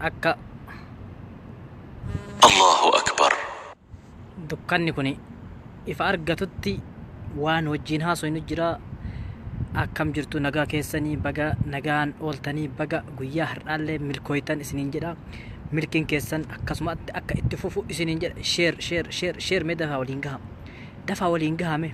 akka Allahu Akbar. dukkanni kun ifa argatutti waan wajjiin haasofnu jira akkam jirtu nagaa keessanii baga nagaan ooltanii baga guyyaa har'aallee milkooytan isiniin jedha milkiin keessan akkasumatti akka itti fufu isiniin jedha sheer sheer sheer sheer mee dafaa waliin gaha dafaa waliin gahame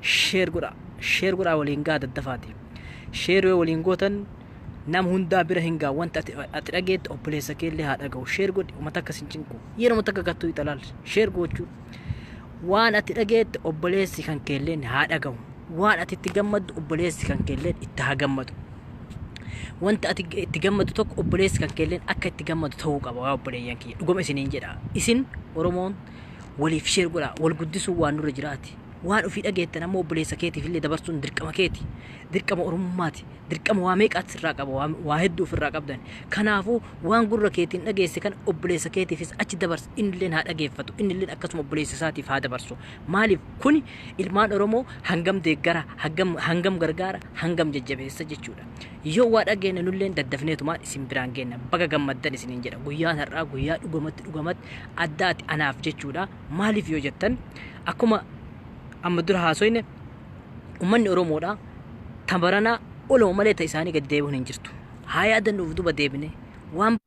Share godhaa share godhaa waliin gaha daddafaati share yoo waliin gootan nam hundaa bira hin gaha wanti ati ati dhageette obboleessa kee illee haa dhagahu share godhi uma takka sin cinqu yeroo takka gattuu italaal share goochuu waan ati dhageette obboleessi kan kee illee haa dhagahu waan ati itti gammaddu obboleessi kan kee illee itti haa gammadu wanti ati itti gammadu tokko obboleessi kan kee illee akka itti gammadu ta'uu qaba waa obboleeyyan kiyya dhugama isiniin jedha isin oromoon waliif share godhaa wal guddisuu waan nurra jiraati Waan ofii dhageettan ammoo obboleessa keetiif illee dabarsuun dirqama keeti. Dirqama oromummaati. Dirqama waa meeqaatti sirraa qaba. Waa, waa hedduu ofirraa qabdan. Kanaafuu waan gurra keetiin dhageesse kana obboleessa keetiifis achi dabarsi. Inni illeen haa dhageeffatu. Inni illeen akkasuma obboleessa isaatiif haa dabarsu. Maaliif kuni ilmaan Oromoo hangam deeggara, hangam, hangam gargaara, hangam jajjabeessa jechuudha. Yoo waa dhageenne nulleen daddafneetumaan isin biraan geenna. Baga gammaddan isiniin jedha. Guyyaan har'aa guyyaa dhugamatti dhugamatti addaati anaaf jechuudha. Maaliif yoo jettan akkuma amma dura haasoyne ummanni Oromoodha tabaranaa oluma malee ta isaanii gadi deebi'uun hin jirtu. Haa yaadannuuf duba deebine waan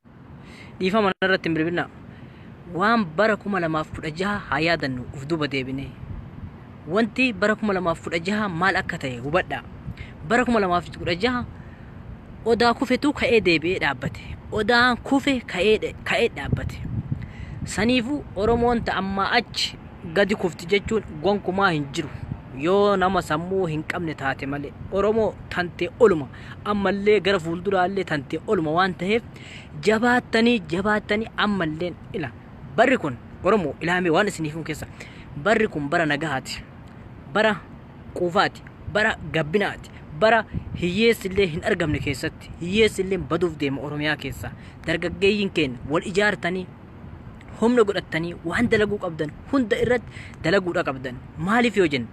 dhiifama irratti hin bilbilina waan bara kuma lamaaf kudha jaha haa yaadannu uf duba deebine Wanti bara 2016 maal akka ta'e hubadhaa. Bara 2016 odaa kufetu ka'ee deebi'ee dhaabbate. Odaan kufe ka'ee dhe- ka'ee dhaabbate. Saniifuu Oromoon ta ammaa achi gadi kufti jechuun gonkumaa hin jiru. Yoo nama sammuu hin qabne taate malee. Oromoo tantee oluma. Ammallee gara fuulduraallee tantee oluma waan ta'eef jabaattanii jabaattanii ammalleen ila Barri kun Oromoo ilaamee waan isiniif himu keessa barri kun bara nagahaati. Bara quufaati. Bara gabbinaati. Bara hiyyeessi illee hin argamne keessatti hiyyeessi illee baduuf deema Oromiyaa keessa. Dargaggeeyyiin keenya wal ijaartanii humna godhattanii waan dalaguu qabdan hunda irratti dalaguudha qabdan. Maaliif yoo jenne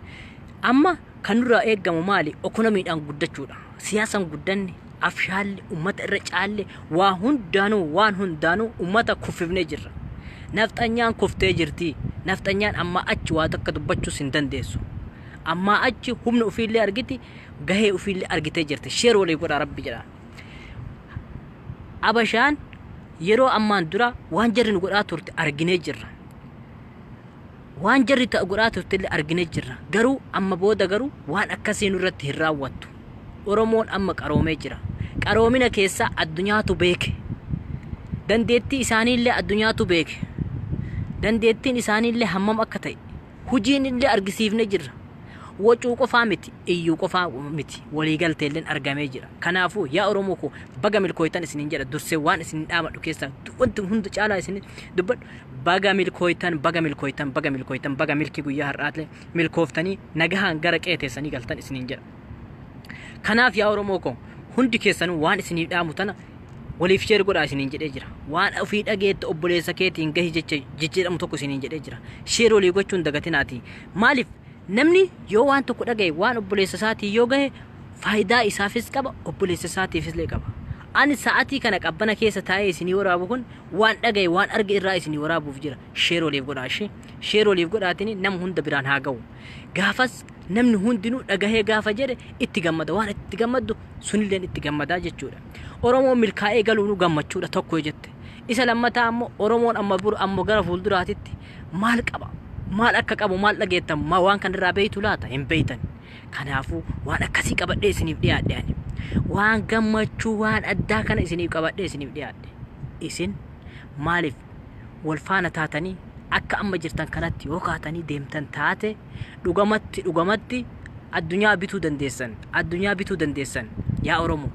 amma kan nurraa eegamu maali? Ekonomiidhaan guddachuudha. Siyaasaan guddanne, afshaalli ummata irra caalle waa hundaanuu waan hundaanuu ummata kuffifnee jirra. Nafxanyaan kuftee jirti. Nafxanyaan ammaa achi waa takka dubbachuus hin dandeessu. Ammaa achi humna ofiillee argiti gahee ofiillee argitee jirti. Sheer walii godhaa rabbi jedha. Abashaan yeroo ammaan dura waan jarri nu godhaa turte arginee jirra. Waan jarri ta'a godhaa turtelle argine jirra. Garuu amma booda garuu waan akkasii nurratti hin raawwattu. Oromoon amma qaroomee jira. Qaroomina keessaa addunyaatu beeke. Dandeettii isaaniillee addunyaatu beeke. Dandeettiin isaaniillee hammam akka ta'e hujiinillee argisiifne jirra. Wacuu qofaa miti, iyyuu qofaa miti, waliigalteelleen argamee jira. Kanaafuu yaa Oromoo koo baga milkooytan isiniin jedha dursee waan isiniin dhaamadhu keessaa wanti hunda caalaa isin dubbadhu. Baga milkooytan, baga milkooytan, baga milkooytan, baga milkii guyyaa har'aatle milkooftanii nagahaan gara qe'ee teessanii galtan isiniin jedha. Kanaaf yaa Oromoo koo hundi keessanuu waan isiniif dhaamu tana waliif sheer godhaa isiniin jedhee jira. Waan ofii dhageetti obboleessa keetiin gahi jecha jijjiiramu tokko isiniin jedhee jira. Sheer walii gochuun dagatinaati. Maaliif namni yoo waan tokko dhagaye waan obboleessa isaatiin yoo gahe faayidaa isaafis qaba obboleessa isaatiifis illee qaba. Ani sa'atii kana qabbana keessa taa'ee isinii waraabu kun waan dhagaye waan arge irraa isinii waraabuuf jira share waliif godhaa ishee share waliif godhaatini nama hunda biraan haa ga'u gaafas namni hundinuu dhagahee gaafa jedhe itti gammada waan itti gammaddu sunilleen itti gammadaa jechuudha oromoon milkaa'ee galuunuu gammachuudha tokko jette isa lammataa ammoo oromoon amma bur ammoo gara fuulduraatitti maal qaba maal akka qabu maal dhageettan ma waan kanarraa beeytu laata hin beeytan Kanaafuu waan akkasii qabadhee isiniif dhiyaadhe ani. Waan gammachuu waan addaa kana isiniif qabadhee isiniif dhiyaadhe. Isin maaliif wal faana taatanii akka amma jirtan kanatti yoo kaatanii deemtan taate dhugamatti dhugamatti addunyaa bituu dandeessan addunyaa bituu dandeessan yaa Oromoo.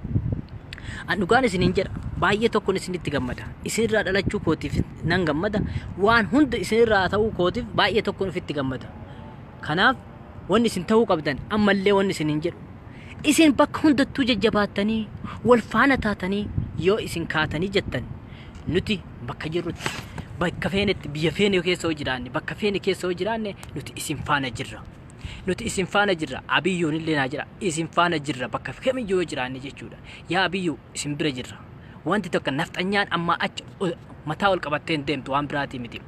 An dhugaan isiniin jedha baay'ee tokkon isinitti gammada isinirraa dhalachuu kootiif nan gammada waan hunda isinirraa ta'uu kootiif baay'ee tokkon ofitti gammada. Kanaaf Wanni isin ta'uu qabdan ammallee wanni isin hin jedhu. Isin bakka hundattuu jajjabaattanii wal faana taatanii yoo isin kaatanii jettan nuti bakka jirrutti bakka feenetti biyya feene keessa yoo jiraanne bakka feene keessa yoo jiraanne nuti isin faana jirra. Nuti isin faana jirra abiyyuun illee naa jira isin faana jirra bakka kamiyyuu yoo jiraanne jechuudha. Yaa abiyyuu isin bira jirra. Wanti tokko nafxanyaan ammaa achi o- mataa ol qabattee hin deemtu waan biraatii miti.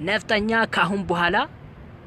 Nafxanyaa kaahun buhaalaa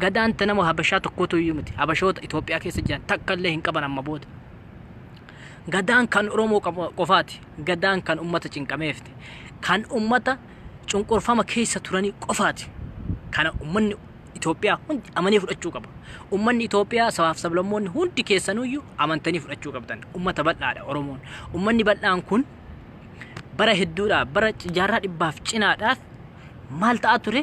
Gadaan ta nama Habashaa tokkootu iyyuu miti. Habashoota Itoophiyaa keessa jiran takka illee hin qaban amma booda. Gadaan kan Oromoo qaba- qofaati. Gadaan kan ummata cinqameefti. Kan ummata cunqurfama keessa turanii qofaati. Kana ummanni Itoophiyaa hundi amanee fudhachuu qaba. Ummanni Itoophiyaa sabaaf sablammoonni hundi keessanuyyuu amantanii fudhachuu qabdan. Ummata bal'aadha Oromoon. Ummanni bal'aan kun bara hedduudhaaf bara jaarraa dhibbaaf cinaadhaaf maal ta'aa ture?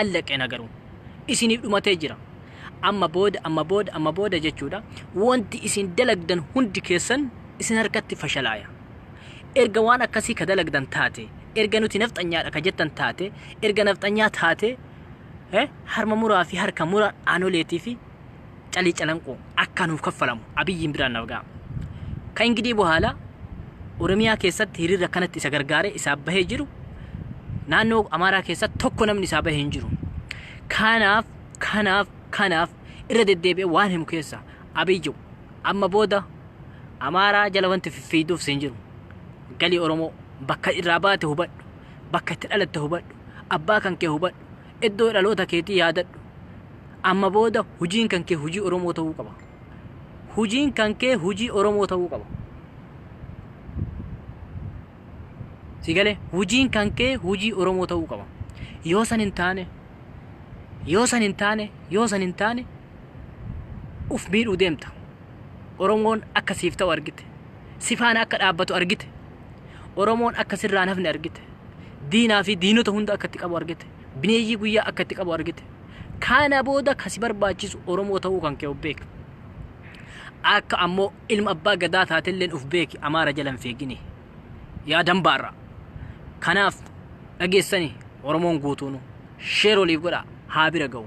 Allaqena garuu. Isiniif dhumatee jira. Amma booda amma booda amma booda jechuudha wanti isin dalagdan hundi keessan isin harkatti fashalaaya. Erga waan akkasii ka dalagdan taate, erga nuti nafxanyaadha ka jettan taate, erga nafxanyaa taate eh, harma muraa fi harka mura aanoleetii fi calii calanqoo akka nuuf kaffalamu abiyyiin biraan naaf ga'a. Ka ingidii bohaala Oromiyaa keessatti hiriirri akkanatti isa gargaaree isaa bahee jiru naannoo Amaaraa keessatti tokko namni isaa bahee hin jiru. Kanaaf kanaaf kanaaf irra deddeebi'ee waan himu keessa abiyyu amma booda Amaaraa jala wanti fiffiiduuf siin jiru. Galii Oromoo bakka irraa baate hubadhu bakka itti dhalatte hubadhu abbaa kan kee hubadhu Iddoo dhaloota keetii yaadadhu. Amma booda hujiin kan kee hujii Oromoo ta'uu qaba. Hujiin kan kee hujii Oromoo ta'uu qaba. Si galee hujiin kan kee hujii Oromoo ta'uu qaba. Yoo san hin taane yoo san hin taane yoo san hin taane uf miidhuu deemta. Oromoon akka siif ta'u argite. Si faana akka dhaabbatu argite. Oromoon akka sirraan hafne argite. Diinaa fi diinota hunda akka itti qabu argite. Bineeyyii guyyaa akka itti qabu argite. Kana booda kan si barbaachisu Oromoo ta'uu kan kee of beeki. Akka ammoo ilma abbaa gadaa taatelleen of beeki Amaara jala hin feegini. Yaa dambaarra. Kanaaf dhageessanii Oromoon guutuunu sheer waliif godhaa haa bira ga'u.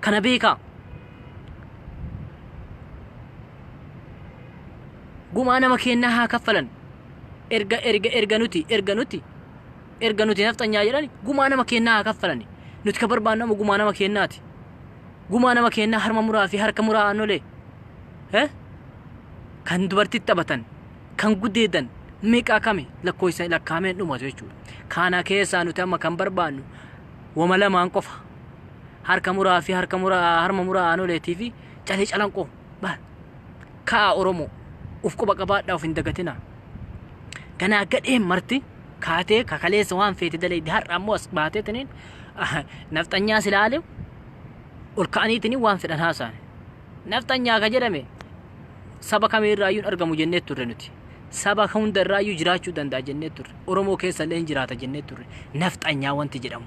Kana beekaa. Gumaa nama keennaa haa kaffalan. Erga erga erga nuti erga nuti erga nuti nafxanyaa jedhani gumaa nama keennaa haa kaffalani. Nuti ka barbaannu amma gumaa nama keennaati. Gumaa nama keennaa harma muraa fi harka muraa aannolee. Eh? Kan dubartitti taphatan, kan gudeedan, meeqaa kami lakkoofsa lakkaa'amee hin dhumatu jechuudha. Kana keessaa nuti amma kan barbaannu wama lamaan qofa. harka muraa fi harka mura harma muraa aanoleetii fi calee calanqoo baal ka'aa oromoo uf quba qabaadhaa uf hin dagatinaa ganaa gadheen marti kaatee kakaleessa waan feete dalaydi har'a ammoo as baatee tiniin nafxanyaa silaale ol ka'anii tiniin waan fedhan haasaan nafxanyaa ka jedhame saba kamii irraa iyyuu hin argamu jennee turre nuti saba hunda irraa iyyuu jiraachuu danda'a jennee turre oromoo keessa illee hin jiraata jennee turre nafxanyaa wanti jedhamu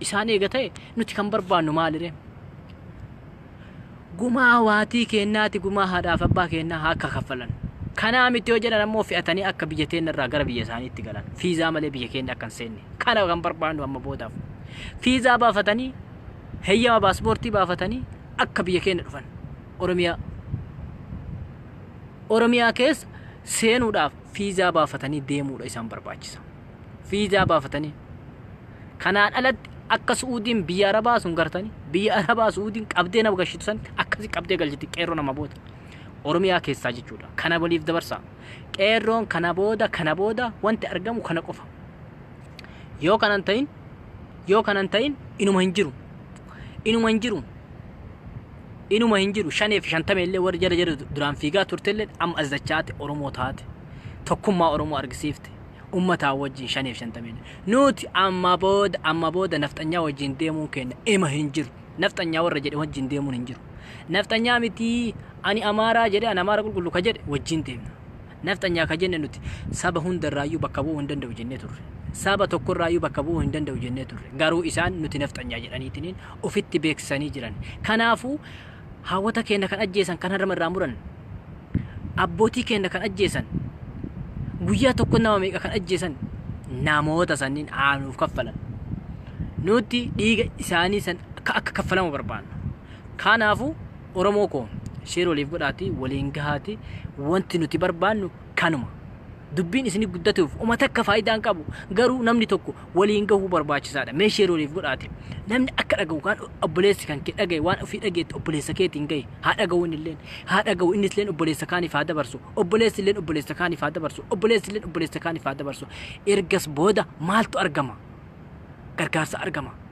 isaan eega ta'e nuti kan barbaannu maalire? Gumaa waatii keennaati gumaa haadhaaf abbaa keennaa haa akka kaffalan. Kanaa miti yoo jedhan ammoo fe'atanii akka biyya teenna irraa gara biyya isaaniitti galan. Fiizaa malee biyya keenya akka hin seenne. Kana kan barbaannu amma boodaaf. Fiizaa baafatanii heyyama paaspoortii baafatanii akka biyya keenya dhufan. Oromiyaa. Oromiyaa keessa seenuudhaaf fiizaa baafatanii deemuudha isaan barbaachisa. Fiizaa baafatanii Kanaan alatti akka Su'uudiin biyya Arabaa sun gartanii biyya Arabaa Su'uudiin qabdee nama gashitu san akkasi qabdee galchiti qeerroo nama booda. Oromiyaa keessaa jechuudha. Kana waliif dabarsaa. Qeerroon kana booda kana booda wanti argamu kana qofa. Yoo kanan ta'in yoo kanan ta'in inuma hin jiru. Inuma hin jiru. Inuma hin jiru. Shanee fi shantama illee warri jala jala duraan fiigaa turte illee amma as dachaate Oromoo taate. Tokkummaa Oromoo argisiifte. ummataa wajjin shaneef shantameen nuuti ammaa booda amma booda nafxanyaa wajjin deemuun keenya ima hin jiru nafxanyaa warra jedhe wajjin deemuun hin jiru nafxanyaa mitii ani amaaraa jedhe an amaara qulqullu ka jedhe wajjin deemna nafxanyaa ka jenne nuti saba hundarraayyuu bakka bu'uu hin danda'u jennee turre saba tokkorraayyuu bakka bu'uu hin danda'u jennee turre garuu isaan nuti nafxanyaa jedhaniitiniin ofitti beeksisanii jiran kanaafuu Haawwota keenna kan ajjeesan kan harma irraa muran, abbootii keenna kan ajjeesan, guyyaa tokko nama meeqa kan ajjeesan namoota sanniin haa nuuf kaffalan. Nuti dhiiga isaanii san akka akka kaffalamu barbaanna. Kanaafuu Oromoo koo sheer waliif godhaatii waliin gahaatii wanti nuti barbaannu kanuma. Dubbiin isini guddateuf uma takka faayidaa hin qabu. Garuu namni tokko waliin gahuu barbaachisaadha. Mee share waliif godhaati. Namni akka dhagahu kaan obboleessi kan kee dhagahe waan ofii dhageetti obboleessa keetiin gahi. Haa dhagahu inni illeen. Haa dhagahu innis illeen obboleessa kaaniif haa dabarsu. Obboleessi illeen obboleessa kaaniif haa dabarsu. Obboleessi illeen obboleessa kaaniif haa dabarsu. Ergas booda maaltu argama? Gargaarsa argama.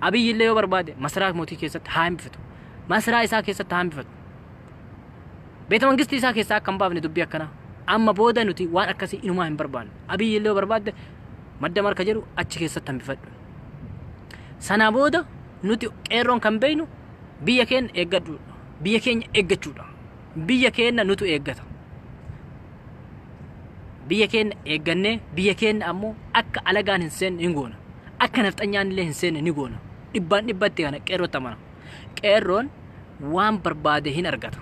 Abiyyi illee yoo barbaade masaraa mootii keessatti haa hambifatu. Masaraa isaa keessatti haa hambifatu. Beeta mangistii isaa keessaa akka hin baafne dubbii akkanaa. Amma booda nuti waan akkasii inumaa hin barbaannu. Abiyyi illee yoo barbaadde madda marka jedhu achi keessatti hambifadhu. Sanaa booda nuti qeerroon kan beeknu biyya keenya eeggadhuudha. Biyya keenya eeggachuudha. biyya keenna nutu eeggata. Biyya keenna eeggannee biyya keenna ammoo akka alagaan hin seenne hin goona. Akka nafxanyaan illee hin seenne ni goona. Dhibbaan dhibbatti kana qeerrootti amana. Qeerroon waan barbaade hin argata.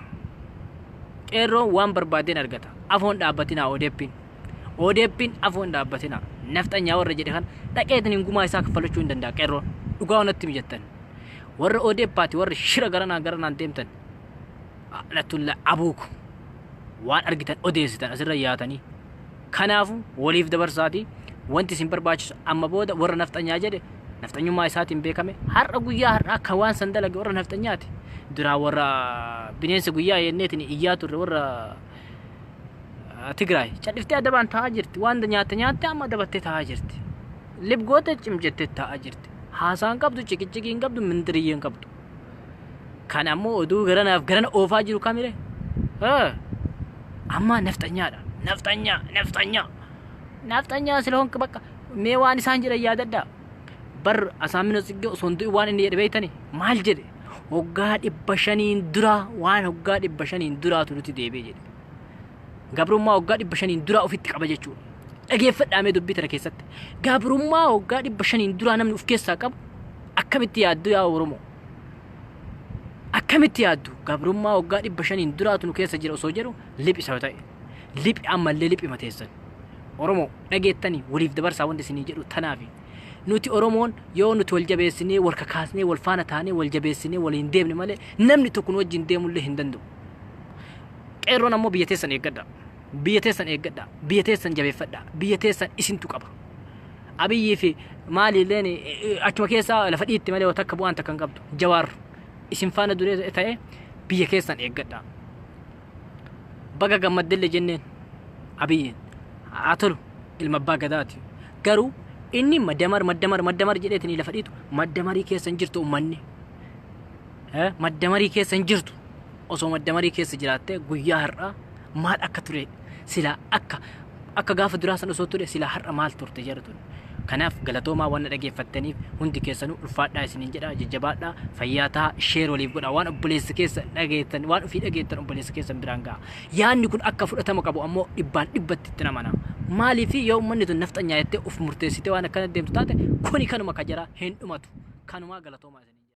Qeerroon waan barbaade hin argata. Afoon dhaabbatinaa odeeppiin. Odeeppiin afoon dhaabbatinaa. Nafxanyaa warra jedhe kan dhaqeetiin hin gumaa isaa kaffalachuu hin danda'a qeerroon. Dhugaa onatti mijattan. Warra odeeppaati warra shira garanaa garanaan deemtan. la'natulla abuukum waan argitan odeessitan asirra yaatanii kanaafu waliif dabarsaati wanti isin barbaachisu amma booda warra nafxanyaa jedhe nafxanyummaa isaatiin beekame har'a guyyaa har'aa kan waan san dalage warra nafxanyaati duraa warra bineensa guyyaa yenneetiin iyyaa turre warra Tigraay cadhiftee adabaan taa'aa jirti waan nyaatte nyaatte amma adabattee taa'aa jirti lib goote cim jettee taa'aa jirti haasaan qabdu ciqiciqiin qabdu mindiriyyeen qabdu Kan ammoo oduu garanaaf garana oofaa jiru kamire? Hee! Ammaa nafxanyaadha. Nafxanyaa, nafxanyaa. Nafxanyaa sila honka bakka mee waan isaan jedhan yaadadhaa. Bar Asaamino Tsiggee osoo hin du'in waan inni jedhe beektani maal jedhe? Hoggaa dhibba shaniin duraa waan hoggaa dhibba shaniin duraatu nuti deebi'e jedhe. Gabrummaa hoggaa dhibba shaniin duraa ofitti qaba jechuudha. Dhageeffadhaamee dubbii tana keessatti. Gabrummaa hoggaa dhibba shaniin duraa namni of keessaa qabu Akkamitti yaaddu yaa Oromoo? Akkamitti yaaddu? Gabrummaa waggaa dhibba shaniin duraatu nu keessa jira osoo jedhu liphisa ta'e. Liphi ammallee liphi mateessan. Oromoo dhageettanii waliif dabarsaa wanti isinii jedhu tanaafi. Nuti Oromoon yoo nuti wal jabeessinee, wal kakaasnee, wal faana taanee, wal jabeessinee, waliin deemne malee namni tokko nu wajjin deemullee hin danda'u. Qeerroon ammoo biyya teessan eeggadha. Biyya teessan eeggadhaa. Biyya teessan jabeeffadhaa. Biyya teessan isintu qaba. Abiyyii fi maali illeen achuma keessa lafa dhiitti malee waan takka bu'aan takka hin qabdu. Jawaar isin faana duree ta'e biyya keessan eeggadhaa. Baga gammaddelle jenneen abiyyiin haa tolu ilma abbaa gadaati. Garuu inni maddamar maddamar maddamar jedheetanii lafa dhiitu maddamarii keessa hin jirtu ummanni. Maddamarii keessa hin jirtu. osoo maddamarii keessa jiraatte guyyaa har'aa maal akka ture silaa akka akka gaafa duraa san osoo ture silaa har'a maal turte jedhu tun. Kanaaf galatoomaa waan na dhageeffattaniif hundi keessanuu ulfaadhaa isiniin jedha jajjabaadhaa fayyaa ta'a sheer waliif godha waan obboleessi keessa dhageettan waan ofii dhageettan obboleessi keessan biraan ga'a. Yaanni kun akka fudhatama qabu ammoo dhibbaan dhibbatti itti namana. Maaliif yoo uummanni tun nafxanyaa jettee of murteessitee waan akkana deemtu taate kuni kanuma ka jara hin dhumatu. Kanumaa galatoomaa isiniin jedha.